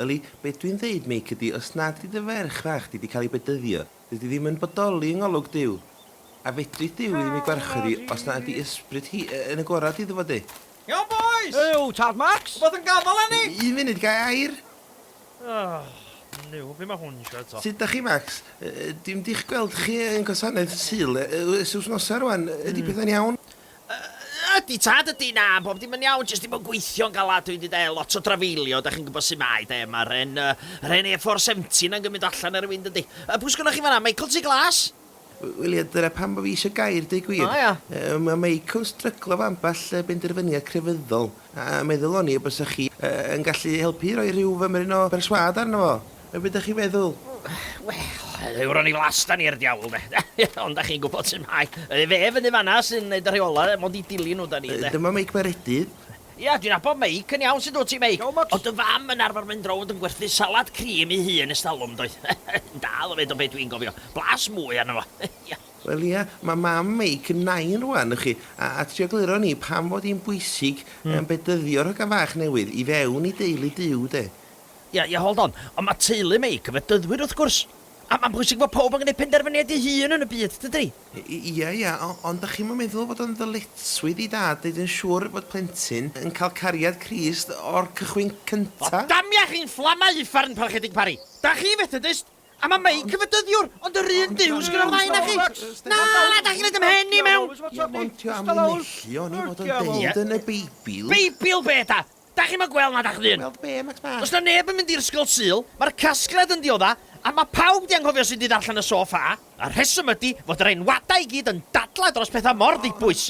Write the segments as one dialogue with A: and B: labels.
A: Yli, be dwi'n ddeud, Meic, ydi, os nad ydi dy ferch fach di 'di cael ei bedyddio, dydi ddi'm yn bodoli yng ngolwg Duw. A fedri Duw ddim ei gwarchod hi os na ydi ysbryd hi yn agorad iddo fo, de? Iawn, bois!
B: Yw, tad Max?
C: Rhywbeth yn gafael arni? Y-
B: un funud, ga i air?
A: Ych,
C: Nuw, be mae hwn isio eto? Sut 'dach chi, Max?
A: Y- y- dwi'm 'di'ch gweld chi yn gwasanaeth Sul e- y- ers wsnosa rwan, ydi pethau'n iawn? Ydy
D: tad, ydy, na, bob dim yn iawn, jyst dim yn gweithio'n galad, dwi 'di 'de, lot o drafeilio, 'dach chi'n gwybod sut mae 'de, ma'r 'en, yr 'en A four seventy 'na'n gymryd o allan ar y wind yndi. Yy pwy sgynnoch chi fan'na, Michael Ty Glas? Wel ie, dyna
A: pam bo fi isio gair, deu gwir. O ia? Yy ma'
D: Michael yn
A: stryglo efo ambell benderfyniad crefyddol, a meddwl o'n i y bysa chi yy yn gallu helpu i roi rhyw fymryn o berswâd arno fo. Yy be da chi'n meddwl? Wel,
D: yw'r o'n i flas da ni i'r diawl de. Ond da chi'n gwybod sut mae. Ydy fe fyny fanna sy'n neud y rheola, mond i dilyn nhw da ni de. Dyma Meic Meredydd.
A: Ia, dwi'n nabod
D: Meic yn iawn, sut wyt ti Meic? Iawn Max. O'dd dy fam yn
C: arfer mynd
D: rownd yn gwerthu salad cream i hun ers talwm yn doedd? Yn dal o fyd o be dwi'n gofio. Blas mwy arno fo. Ia. Wel ia,
A: mae mam Meic yn nain rwan, y'ch chi, a a trio gliro ni pam fod hi'n bwysig yym bedyddio'r hogan fach newydd i fewn i deulu Duw de. Ie, ie, hold
D: on. Ond mae teulu Meic yn Fedyddwyr, wrth gwrs. A mae'n bwysig fod pawb yn gwneud penderfyniad ei hun yn y byd, dydy? Ie, ie,
A: ond dach chi'm yn meddwl fod o'n ddyletswydd i dad wneud yn siŵr fod plentyn yn cael cariad Crist o'r cychwyn cynta? O, damia chi'n
D: fflamau uffern, Parchedig Parry! Dach chi'n Fethedist, a mae Meic yn Fedyddiwr, ond yr un Duw sydd gyda'r ddau onoch chi! Na, na, dach chi'n rhoi dy mhen i mewn! Ie, ond 'di o am
A: linellu oni fod o'n deud yn y Beibl? Beibl be', Dad?
D: Dach chi'm yn gweld na dach chdi? Gweld be, Max Bach? Does 'na
A: neb yn mynd i'r Ysgol
D: Sul, mae'r casgliad yn diodda', a mae pawb 'di anghofio sut i ddarllen y so ffa. Y rheswm ydi fod yr enwadau i gyd yn dadlau dros pethau mor ddibwys.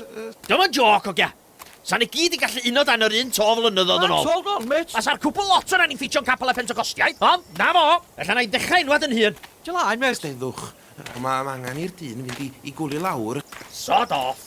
D: Dio 'm yn jôc, ogia. 'Sa ni gyd 'di gallu uno dan yr un to flynyddoedd yn ôl. Max, hold on, mêt! Fasa'r
C: cwbl lot o ran i
D: ffitio'n capel y Pentecostiaid, ond 'na fo! Ella 'na i ddechrau enwad yn hun. Dio laen, mêt!
A: Steddwch.
D: Mae
A: angen i'r dyn fynd i gwlio lawr.
C: Sod
A: off!